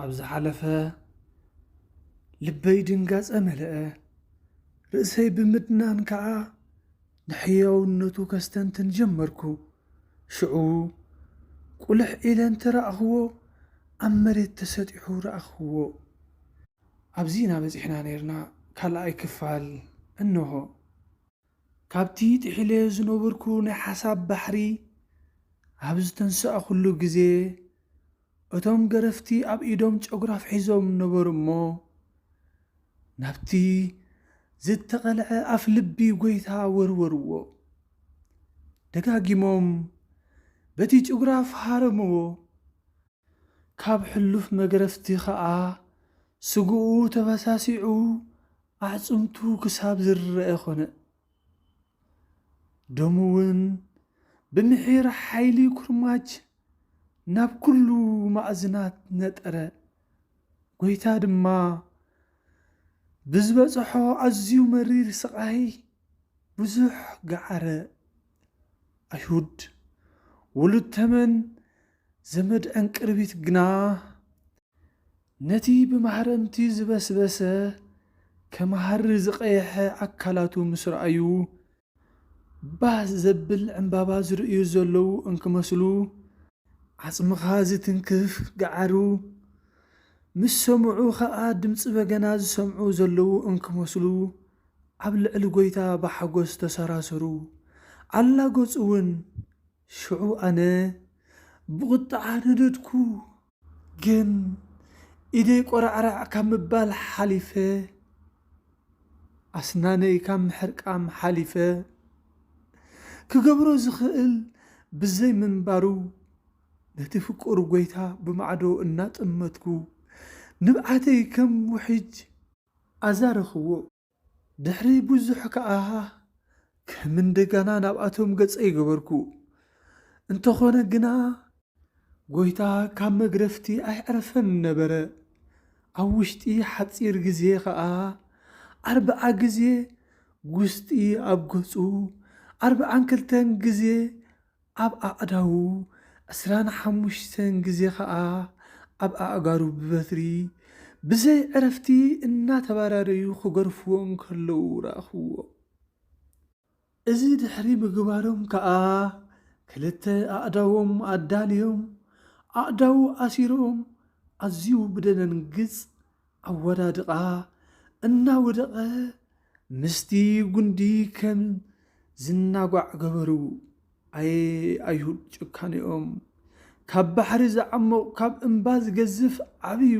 ኣብ ዝሓለፈ ልበይ ድንጋጸ መለአ፣ ርእሰይ ብምድናን ከኣ ንሕያውነቱ ከስተንትን ጀመርኩ። ሽዑ ቁልሕ ኢለ እንተ ረኣኽዎ ኣብ መሬት ተሰጢሑ ረኣኽዎ። ኣብዚ ኢና በጺሕና ኔርና ካልኣይ ክፋል እንሆ። ካብቲ ጥሒለዮ ዝነበርኩ ናይ ሓሳብ ባሕሪ ኣብ ዝተንሳእኹሉ ግዜ፣ እቶም ገረፍቲ ኣብ ኢዶም ጨጉራፍ ሒዞም ነበሩ እሞ፣ ናብቲ ዝተቐልዐ ኣፍ ልቢ ጐይታ ወርወርዎ። ደጋጊሞም በቲ ጭጉራፍ ሃረምዎ። ካብ ሕሉፍ መግረፍቲ ከኣ ስግኡ ተበሳሲዑ ኣዕጽምቱ ክሳብ ዝርረኣ ኮነ። ደሙ'ውን ብምሒር ሓይሊ ኩርማጅ ናብ ኩሉ ማእዝናት ነጠረ። ጎይታ ድማ ብዝበጸሖ ኣዝዩ መሪር ስቓይ ብዙሕ ገዓረ። ኣይሁድ ውሉድ ተመን ዘመድ ዕንቅርቢት ግና ነቲ ብማህረምቲ ዝበስበሰ ከም ሃሪ ዝቐየሐ ኣካላቱ ምስ ረኣዩ ባህ ዘብል ዕምባባ ዝርእዩ ዘለዉ እንክመስሉ ዓጽምኻ ዝትንክፍ ገዓሩ ምስ ሰምዑ ከኣ ድምጺ በገና ዝሰምዑ ዘለዉ እንክመስሉ ኣብ ልዕሊ ጐይታ ብሓጐስ ተሰራሰሩ ኣላገጹ'ውን ሽዑ ኣነ ብቝጥዓ ነደድኩ። ግን ኢደይ ቈራዕራዕ ካብ ምባል ሓሊፈ፣ ኣስናነይ ካብ ምሕርቃም ሓሊፈ፣ ክገብሮ ዝኽእል ብዘይ ምንባሩ፣ ነቲ ፍቁር ጐይታ ብማዕዶ እናጠመትኩ፣ ንብዓተይ ከም ውሕጅ ኣዛረኽዎ። ድሕሪ ብዙሕ ከኣ ከም እንደጋና ናብኣቶም ገጸይ ገበርኩ። እንተኾነ ግና ጎይታ ካብ መግረፍቲ ኣየዕረፈን ነበረ። ኣብ ውሽጢ ሓጺር ግዜ ከኣ ኣርብዓ ግዜ ጉስጢ ኣብ ገጹ ኣርብዓን ክልተን ግዜ ኣብ ኣእዳዉ ዕስራን ሓሙሽተን ግዜ ከኣ ኣብ ኣእጋሩ ብበትሪ ብዘይ ዕረፍቲ እናተባራረዩ ክገርፍዎ እንከለዉ ረኣኹዎ። እዚ ድሕሪ ምግባሮም ከኣ ክልተ ኣእዳዎም ኣዳልዮም ኣእዳዉ ኣሲሮም ኣዝዩ ብደነንግጽ ኣወዳድቓ እናወደቐ ምስቲ ጉንዲ ከም ዝናጓዕ ገበሩ። ኣየ ኣይሁድ ጭካኔኦም! ካብ ባሕሪ ዝዓሙቕ ካብ እምባ ዝገዝፍ ዓቢዩ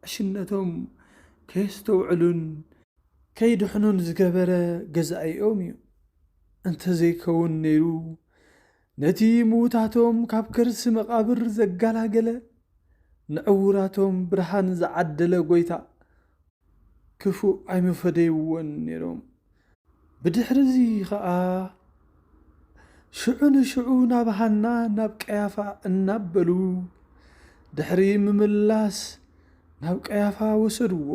ዕሽነቶም ከየስተውዕሉን ከይድሕኑን ዝገበረ ገዛኢኦም እዩ። እንተዘይከውን ነይሩ ነቲ ምዉታቶም ካብ ከርሲ መቓብር ዘጋላገለ፣ ንዕዉራቶም ብርሃን ዝዓደለ ጐይታ፣ ክፉእ ኣይምፈደይዎን ነይሮም። ብድሕርዚ ኸኣ ሽዑ ንሽዑ ናብ ሃና ናብ ቀያፋ እናበሉ ድሕሪ ምምላስ ናብ ቀያፋ ወሰድዎ።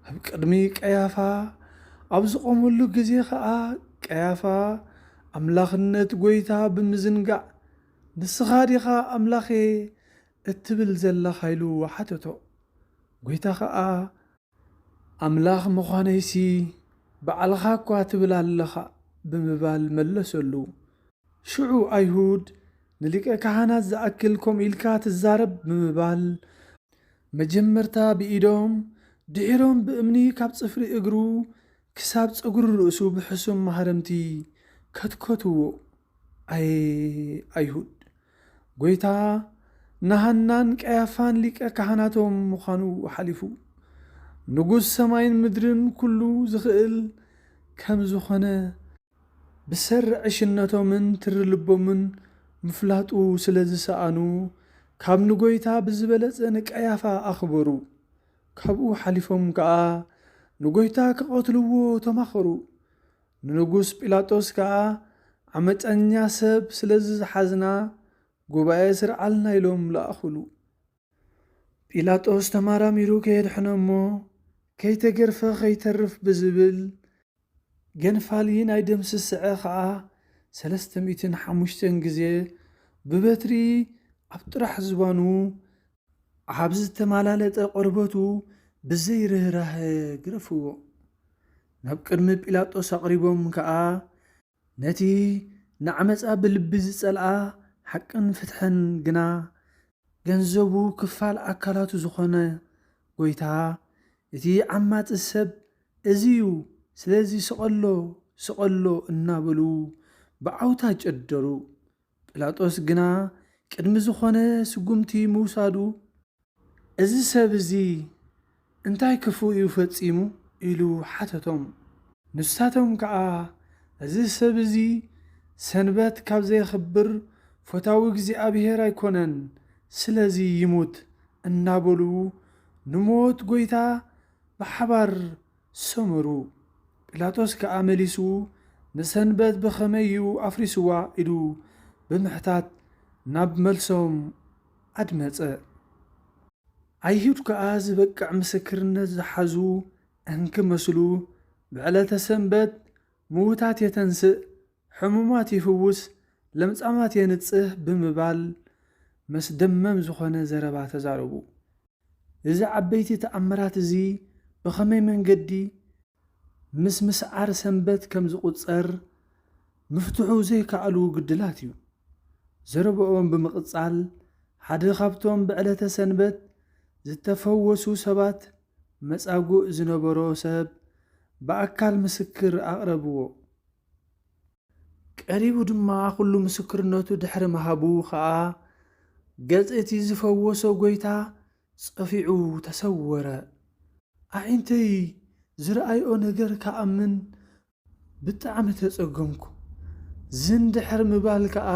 ኣብ ቅድሚ ቀያፋ ኣብ ዝቖመሉ ግዜ ኸኣ፣ ቀያፋ ኣምላኽነት ጐይታ ብምዝንጋዕ፣ ንስኻ ዲኻ ኣምላኽ'የ እትብል ዘለኻ? ኢሉ ሓተቶ። ጐይታ ኸኣ፣ ኣምላኽ ምዃነይሲ ባዕልኻ'ኳ ትብል ኣለኻ ብምባል መለሰሉ። ሽዑ ኣይሁድ፣ ንሊቀ ካህናት ዝኣክል ከምኡ ኢልካ ትዛረብ ብምባል መጀመርታ ብኢዶም ድሒሮም ብእምኒ ካብ ጽፍሪ እግሩ ክሳብ ጸጉሪ ርእሱ ብሕሱም ማህረምቲ ከትከትዎ። ኣየ ኣይሁድ! ጐይታ ንሃናን ቀያፋን ሊቀ ካህናቶም ምዃኑ ሓሊፉ ንጉስ ሰማይን ምድርን ኵሉ ዝኽእል ከም ዝዀነ፣ ብሰሪ ዕሽነቶምን ትሪ ልቦምን ምፍላጡ ስለ ዝሰኣኑ፣ ካብ ንጐይታ ብዝበለጸ ንቀያፋ ኣኽበሩ። ካብኡ ሓሊፎም ከኣ ንጐይታ ክቐትልዎ ተማኸሩ። ንንጉስ ጲላጦስ ከኣ ዓመጸኛ ሰብ ስለ ዝሓዝና ጉባኤ ስርዓልና ኢሎም ለኣኹሉ። ጲላጦስ ተማራሚሩ ከየድሕኖ እሞ ከይተገርፈ ከይተርፍ ብዝብል፣ ገንፋሊ ናይ ደም ስስዐ ከኣ ሰለስተ ሚእትን ሓሙሽተን ግዜ ብበትሪ ኣብ ጥራሕ ዝባኑ ኣብ ዝተማላለጠ ቆርበቱ ብዘይ ርህራሀ ግረፍዎ። ናብ ቅድሚ ጲላጦስ ኣቕሪቦም ከኣ ነቲ ንዓመጻ ብልቢ ዝጸልኣ ሓቅን ፍትሕን ግና ገንዘቡ ክፋል ኣካላቱ ዝኾነ ጎይታ እቲ ዓማጺ ሰብ እዚ'ዩ ስለዚ ስቐሎ ስቐሎ እናበሉ ብዓውታ ጨደሩ። ጲላጦስ ግና ቅድሚ ዝኾነ ስጉምቲ ምውሳዱ፣ እዚ ሰብ እዚ እንታይ ክፉእ እዩ ፈጺሙ? ኢሉ ሓተቶም። ንሳቶም ከኣ፣ እዚ ሰብ እዚ ሰንበት ካብ ዘየኽብር ፈታዊ እግዚኣብሄር ኣይኮነን፣ ስለዚ ይሙት እናበሉ ንሞት ጐይታ ብሓባር ሰመሩ። ጲላጦስ ከኣ መሊሱ ንሰንበት ብኸመይ እዩ ኣፍሪስዋ ኢሉ ብምሕታት ናብ መልሶም ኣድመጸ። ኣይሁድ ከኣ ዝበቅዕ ምስክርነት ዝሓዙ እንኪመስሉ ብዕለተ ሰንበት ምዉታት የተንስእ፣ ሕሙማት ይፍውስ፣ ለምጻማት የንጽህ ብምባል መስደመም ዝኾነ ዘረባ ተዛረቡ። እዚ ዓበይቲ ተኣምራት እዚ ብኸመይ መንገዲ ምስ ምስዓር ሰንበት ከም ዝቝጸር ምፍትሑ ዘይከኣሉ ግድላት እዩ። ዘረባኦም ብምቕጻል፣ ሓደ ኻብቶም ብዕለተ ሰንበት ዝተፈወሱ ሰባት መጻጉእ ዝነበሮ ሰብ ብኣካል ምስክር ኣቕረብዎ። ቀሪቡ ድማ ዅሉ ምስክርነቱ ድሕሪ ምሃቡ ኸኣ፣ ገጽ እቲ ዝፈወሶ ጐይታ ጸፊዑ ተሰወረ። ኣዒንተይ ዝረኣይኦ ነገር ክኣምን ብጣዕሚ ተጸገምኩ። ዝን ድሕሪ ምባል ከኣ፣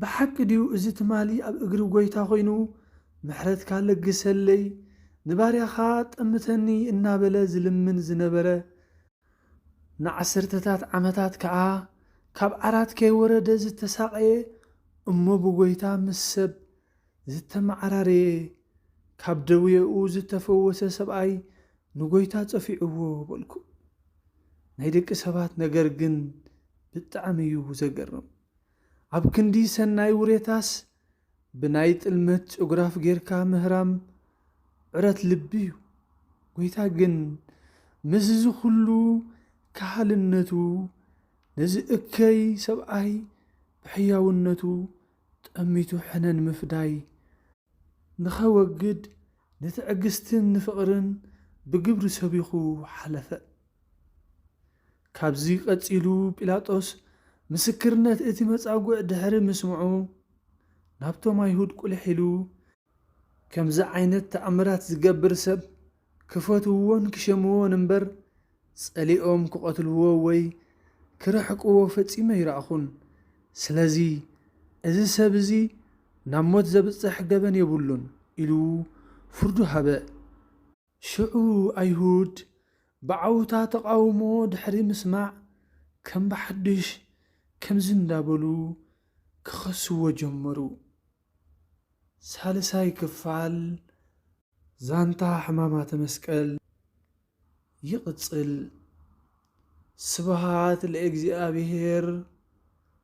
ብሓቂ ድዩ እዚ ትማሊ ኣብ እግሪ ጐይታ ኰይኑ፣ ምሕረትካ ለግሰለይ፣ ንባርያኻ ጠምተኒ እናበለ ዝልምን ዝነበረ ንዓሰርተታት ዓመታት ከኣ ካብ ዓራት ከይወረደ ዝተሳቐየ እሞ ብጐይታ ምስ ሰብ ዝተመዓራረየ ካብ ደዌኡ ዝተፈወሰ ሰብኣይ ንጐይታ ጸፊዕዎ በልኩ። ናይ ደቂ ሰባት ነገር ግን ብጣዕሚ እዩ ዘገርም። ኣብ ክንዲ ሰናይ ውሬታስ ብናይ ጥልመት ጭጉራፍ ጌርካ ምህራም ዕረት ልቢ እዩ። ጐይታ ግን ምስዚ ዅሉ ከሃልነቱ ነዚ እከይ ሰብኣይ ብሕያውነቱ ጠሚቱ ሕነ ንምፍዳይ ንኸወግድ ንትዕግስትን ንፍቕርን ብግብሪ ሰቢኹ ሓለፈ። ካብዚ ቀጺሉ ጲላጦስ ምስክርነት እቲ መጻጉዕ ድሕሪ ምስምዑ፣ ናብቶም ኣይሁድ ቍሊሕ ኢሉ፣ ከምዚ ዓይነት ተኣምራት ዚገብር ሰብ ኪፈትውዎን ኪሸምዎን እምበር፣ ጸሊኦም ኪቐትልዎ ወይ ኪርሕቅዎ ፈጺመ ኣይረኣኹን። ስለዚ፣ እዚ ሰብ እዚ ናብ ሞት ዘብጽሕ ገበን የብሉን ኢሉ ፍርዱ ሃበ። ሽዑ ኣይሁድ ብዓውታ ተቓውሞ ድሕሪ ምስማዕ ከም ብሓድሽ ከምዚ እንዳበሉ ክኸስዎ ጀመሩ፣ ሳልሳይ ክፋል ዛንታ ሕማማተ መስቀል ይቕጽል፣ ስብሃት ለእግዚኣብሔር።